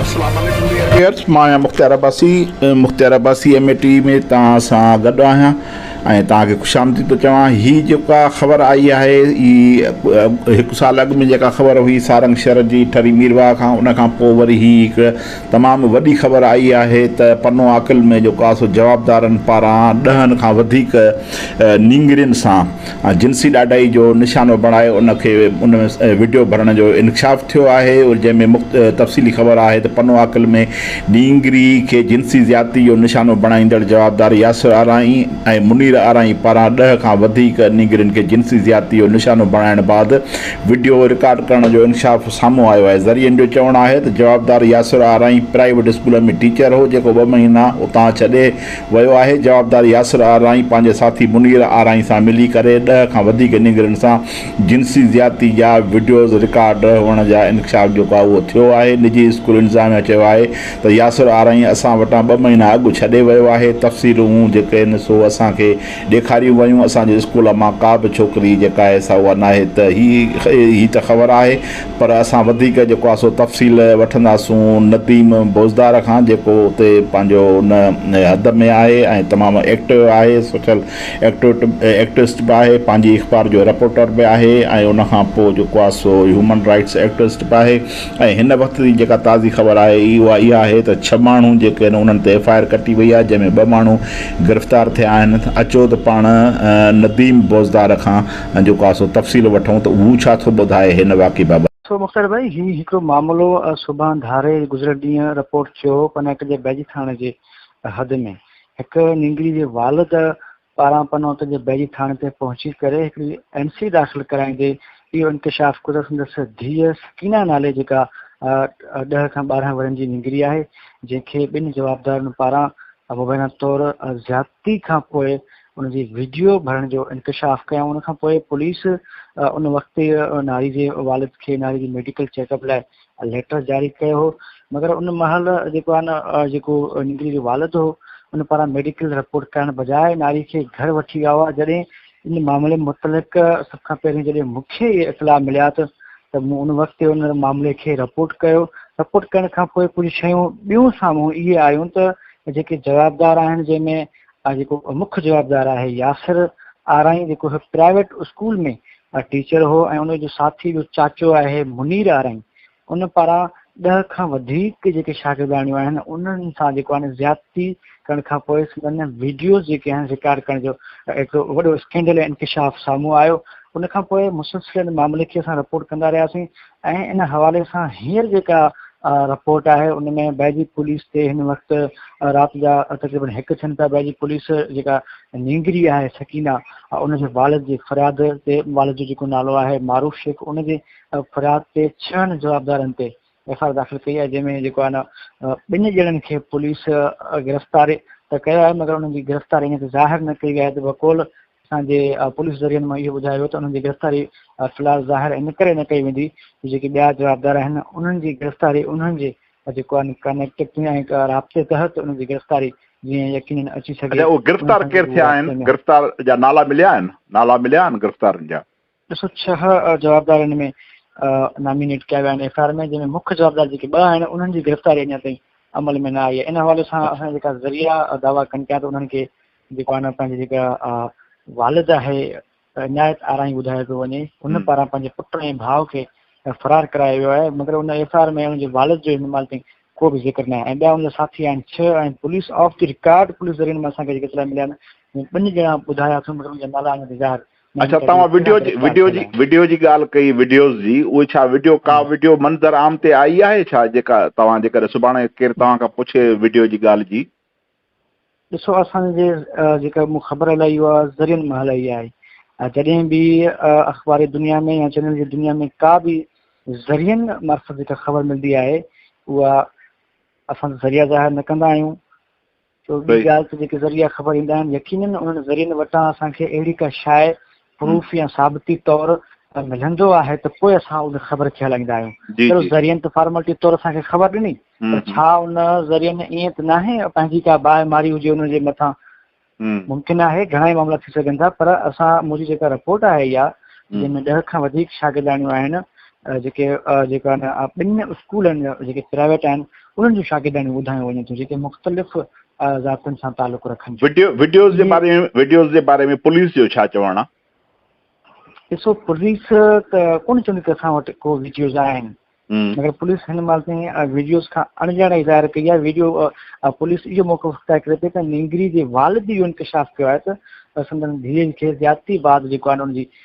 اسلام عليڪم dear viewers مان آهيان Mukhtiar Abbasi Mukhtiar Abbasi M A T V ۾ توهان سان گڏ آهيان ۽ توهان کي خوش آمديد ٿو چوان هي جيڪا خبر آئي آهي هي هڪ سال اڳ ۾ جيڪا خبر هئي سارنگ شهر جي ٺري ميرواهه کان ان کان پوء وري هي هڪ تمام وڏي خبر آئي آهي ته پنو عاقل ۾ جيڪو آسو جوابدارن پاران ڏهن کان وڌيڪ نينگرين سان جنسي ڏاڍائي جو نشانو بڻائي ان کي ان ۾ وڊيو ڀرڻ جو انڪشاف ٿيو آهي جنهن ۾ مخت تفصيلي خبر آهي ته پنو عاقل ۾ ڏينگري کي جنسي زيادتي جو نشانو بڻائيندڙ جوابدار ياسر آرائين ۽ منير آرائين پاران ڏهه کان وڌيڪ نينگرين کي جنسي زيادتي جو نشانو بڻائڻ بعد وڊيو رڪارڊ ڪرڻ جو انڪشاف سامهون آيو آهي ذريعن جو چوڻ آهي ته جوابدار Yasir Arain private school ۾ teacher هو جيڪو ٻه مهينا اتان ڇڏي ويو آهي، جوابدار ياسر آرائين پنهنجي ساٿي منير آرائين سان ملي ڪري ڏهه کان وڌيڪ نينگرين سان جنسي زيادتي جا وڊيوز رڪارڊ هئڻ جا انڪشاف جيڪو آهي اهو ٿيو آهي، نجي اسڪول انتظاميا چيو آهي ته ياسر آرائين اسان وٽان ٻه مهينا اڳ ڇڏي ويو آهي، تفصيلون جيڪي آهن سو اسان کي ڏيکاريون ويون، اسان جي اسڪول مان ڪا به ڇوڪري جيڪا آهي سا اها ناهي ته هي ته خبر آهي پر اسان وڌيڪ جيڪو آهي سو تفصيل وٺنداسون نديم بوزدار کان جيڪو اتي پنهنجو ان حد ۾ آهي ۽ تمام ايڪٽو آهي سوشل ايڪٽوسٽ به آهي پنهنجي اخبار جو رپورٽر به آهي ۽ ان کان پوء جيڪو آهي سو هيومن رائٽس ايڪٽوسٽ به آهي ۽ هن وقت جي جيڪا تازي خبر آهي اها اها آهي ته ڇهه ماڻهو جيڪي آهن انهن تي ايف آء آر ڪٽي وئي آهي جنهن ۾ ٻه ماڻهو گرفتار ٿيا آهن اچو ته پاڻ نديم بوزدار کان ۽ جو ڪا سو تفصيل وٺون ته هو ڇا ٿو ٻڌائي هن واقعي بابت. سو مختيار ڀائي هي هڪڙو معاملو سڀان ڌاري گذريل ڏينهن رپورٽ ٿيو هو پنهٽ جي بيجي ٿاڻي جي حد ۾ هڪ نينگري جي والد پاران پنهٽ جي بيجي ٿاڻي تي پهچي ڪري هڪڙي اين سي داخل ڪرائيندي اهو انڪشاف ڪيو ته سندس ڌيء سڪينه نالي جيڪا ڏهه کان ٻارهن ورهين جي نينگري آهي جنهن کي ٻن جوابدارن پاران مبينا طور زيادتي کان پوء ان جي وڊيو ڀرڻ جو انڪشاف ڪيائون ان کان پوء پوليس ان وقت ناري جي والد کي ناري جي ميڊيڪل چيڪ اپ لاء ليٽر جاري ڪيو هو مگر ان مهل جيڪو آن جيڪو نگري جو والد هو ان پاران ميڊيڪل رپورٽ ڪرڻ بجاء ناري کي گهر وٺي ويا هئا جڏهن ان معاملي متعلق سڀ کان پهرين جڏهن مونکي اطلاع مليا ته ته مون ان وقت ان معاملي کي رپورٽ ڪيو رپورٽ ڪرڻ کان پوء ڪجهه شيون ٻيون سامهون اهي آيون ته جيڪي جوابدار آهن جنهن ۾ ها جيڪو مک جوابدار آهي ياسر آرائين جيڪو هڪ پرائيويٽ اسڪول ۾ ٽيچر هو ۽ ان جو ساٿي جو چاچو آهي منير آرائين ان پاران ڏهه کان وڌيڪ جيڪي شاگرداڻيون آهن انهن سان جيڪو آهن زيادتي ڪرڻ کان پوء سندن ويڊيوز جيڪي آهن رڪارڊ ڪرڻ جو هڪ وڏو اسڪينڊل انڪشاف سامهون آيو ان کان پوء مسلسل ان معاملي کي اسان رپورٽ ڪندا رهياسين ۽ ان حوالي سان هينئر جيڪا رپورٽ آهي ان ۾ بيجي پوليس تي هن وقت رات جا تقريبن هڪ ٿين پيا بيجي پوليس جيڪا نينگري آهي سڪينا ان جي والد جي فرياد تي والد جو جيڪو نالو آهي معروف شيخ ان جي فرياد تي ڇهن جوابدارن تي ايف آر داخل ڪئي آهي جنهن ۾ جيڪو آهي نه ٻن ڄڻن کي پوليس گرفتار ته ڪيو آهي مگر انهن جي گرفتار اڃا ته ظاهر نه ڪئي وئي آهي ته بقول اسان جي پوليس ذريعن مان اهو ٻڌايو ويو ته انهن جي گرفتاري في الحال ظاهر ان ڪري نه ڪئي ويندي جو جيڪي ٻيا جوابدار آهن انهن جي گرفتاري انهن جي جيڪو ڪنيڪٽيوٽي ۽ رابطي تحت انهن جي گرفتاري جيئن يقينن اچي سگهي اهو گرفتار ڪير ٿيا آهن گرفتار جا نالا مليا آهن نالا مليا آهن گرفتارن جا ٻه سؤ ڇهه جوابدار ان ۾ نامينيٽ ڪيا ويا آهن ايف آء آر ۾ جنهن ۾ مک جوابدار جيڪي ٻه آهن انهن جي گرفتاري اڃا تائين عمل ۾ نه آئي آهي ان حوالي سان اسان جيڪا ذريعا دعويٰ ڪن پيا ته انهن کي جيڪو آهي پنهنجي جيڪا والد آهي عنايت آرائي ٻڌايو پيو وڃي ان پاران پنهنجي پٽ ۽ ڀاء کي فرار ڪرايو ويو آهي مگر ان ايف آء آر ۾ ان جي والد جو ان مال تائين ڪو به ذڪر نه آهي ۽ ٻيا ان جا ساٿي آهن ڇهه ۽ police off the record police ذريعن مان اسان کي جيڪي اطلاع مليا آهن ٻن ڄڻا ٻڌايا اٿم مگر ان جا نالا اڃا ظاهر اچا توهان وڊيو جي وڊيو جي وڊيو جي ڳالهه ڪئي وڊيوز جي اهي ڇا وڊيو ڪا وڊيو منظر عام تي آئي آهي ڇا جيڪا توهان جيڪڏهن سڀاڻي ڪير توهان کان پڇي وڊيو جي ڳالهه جي ڏسو اسان جي جيڪا مون خبر هلائي اها ذريعن مان هلائي آهي جڏهن به اخباري دنيا ۾ يا چينل جي دنيا ۾ ڪا به ذريعن مارفت جيڪا خبر ملندي آهي اها اسان ذريعا ظاهر نه ڪندا آهيون ٻي ڳالهه ته جيڪي ذريعا خبر ايندا آهن يقينن انهن ذريعن وٽان اسان کي اهڙي ڪا شاء پروف يا ثابتي طور ملندو آهي ته پوء اسان ان خبر کي هلائيندا آهيون ذريعن ته فارملٽي طور اسان کي خبر ڏني پر ڇا ان ذريعن ائين ته ناهي پنهنجي ڪا باهه ماري هجي ان جي مٿان ممڪن آهي گهڻا ئي معاملا ٿي سگهن ٿا پر اسان منهنجي جيڪا رپورٽ آهي اها جنهن ۾ ڏهه کان وڌيڪ شاگرداڻيون آهن جيڪي جيڪا ٻن اسڪولن جا جيڪي پرائيويٽ آهن انهن جون شاگردياڻيون ٻڌايون وڃن ٿيون جيڪي مختلف ذاتن سان تعلق رکن ٿيون. وڊيوز جي باري ۾ وڊيوز جي باري ۾ پوليس جو ڇا چوڻ آهي؟ ڏسو پوليس ته ڪونه چوندي ته اسان وٽ ڪو وڊيوز آهن مگر پوليس هن مال تائين وڊيوز کان اڻڄاڻائي ظاهر ڪئي آهي وڊيو پوليس اهو موقف اختيار ڪري پئي ته نينگري جي والد اهو انڪشاف ڪيو آهي ته سندن ڌيء کي زيادتي بعد جيڪو آهي ان جي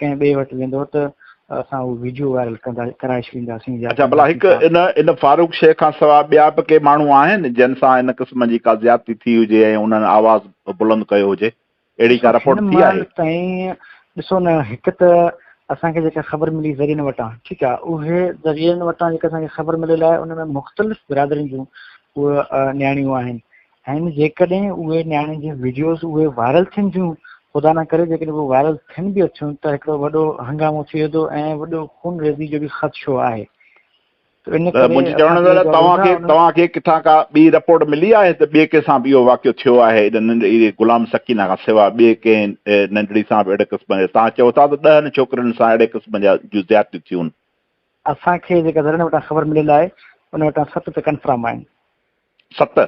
ڪنهن ٻئي وٽ ويندو ته اسان اهو ويڊيو وائرل ڪندا ڪرائي ڇڏينداسين يا اڇا ڀلا ڪنداسين هڪ ڇا؟ ان ان فاروق شيخ کان سواء ٻيا به ڪي ماڻهو آهن جن سان ان قسم جي ڪا زيادتي ٿي هجي ۽ انهن آواز بلند ڪيو هجي اهڙي ڏسو ڪا رپورٽ هن ٿي آهي مهل تائين ڏسو نه هڪ ته اسان کي جيڪا خبر ملي ذريعن وٽان ٺيڪ آهي اهي ذريعن وٽان جيڪا اسان کي خبر مليل آهي ان ۾ مختلف برادرين جون اهي نياڻيون آهن ۽ جيڪڏهن اهي نياڻين جون وڊيوز اهي وائرل ٿين ٿيون خدا نه ڪري جيڪڏهن اهي وائرل ٿين به اٿيون ته هڪڙو وڏو هنگامو ٿي ويندو ۽ وڏو خونريزي جو به خدشو آهي ته منهنجي چوڻ جو مطلب توهان کي توهان کي ڪٿان ڪا ٻي رپورٽ ملي آهي ته ٻئي ڪنهن سان به اهو واقعو ٿيو آهي ان ننڍڙي غلام سڪينه کان سواء ٻئي ڪنهن ننڍڙي سان به اهڙي قسم جا توهان چئو ٿا ته ڏهن ڇوڪرين سان اهڙي قسم جا جون زيادتيون ٿيون اسان کي جيڪا ڌرڻي وٽان خبر مليل آهي ان وٽان ست ته ڪنفرم آهن ست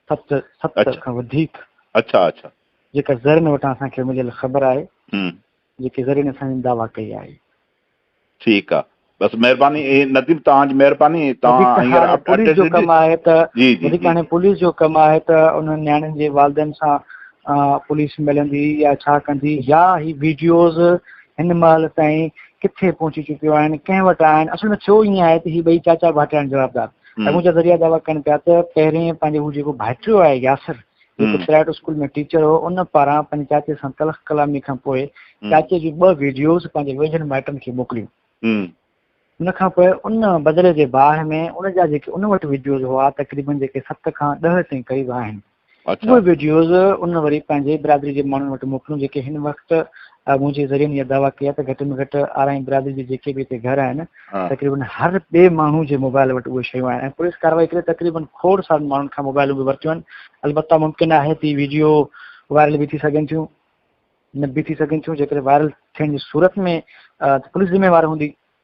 ست ست اچھا کان وڌيڪ اچھا اچھا جيڪا ذرين وٽان اسان کي مليل خبر آهي ھمم جيڪي ذرين اسان جي دعويٰ ڪئي آهي. ٺيڪ آ بس مھرباني نديم توھان جي مھرباني توھان ھينئر پوليس جو ڪم آھي ته جي جي جي ھاڻي پوليس جو ڪم آھي ته انھن نياڻين جي والدين سان پوليس ملندي يا ڇا ڪندي يا ھي ويڊيوز ھن مھل تائين ڪٿي پھچي چڪيون آھن ڪنھن وٽ آھن اصل ۾ ٿيو ائين آھي ته ھي ٻئي چاچا ڀاٽياڻي جوابدار اڳون جا ذريعا دعويٰ ڪن پيا ته پهرين پنهنجو هو جيڪو ڀائٽيو آهي ياسر جيڪو پرائيويٽ اسڪول ۾ ٽيچر هو ان پاران پنهنجي چاچي سان تلخ ڪلامي کان پوء چاچي جون ٻه ويڊيوز پنهنجي ويجهن مائٽن کي موڪليون ان کان پوء ان بدلي جي باهه ۾ ان جا جيڪي ان وٽ ويڊيوز هئا تقريبن جيڪي ست کان ڏهه تائين قريب آهن اهي وڊيوز ان وري پنهنجي برادري جي ماڻهن وٽ موڪليون جيڪي هن وقت منهنجي ذريعن اها دعويٰ ڪئي آهي ته گهٽ ۾ گهٽ آرائين برادري جي جيڪي به هتي گهر آهن تقريبن هر ٻئي ماڻهو جي موبائل وٽ اهي شيون آهن ۽ پوليس ڪارروائي ڪري تقريبن کوڙ سارن ماڻهن کان موبائلون به ورتيون آهن البته ممڪن آهي ته ويڊيو وائرل به ٿي سگهن ٿيون نه به ٿي سگهن ٿيون جيڪڏهن وائرل ٿيڻ جي صورت ۾ پوليس ذميوار هوندي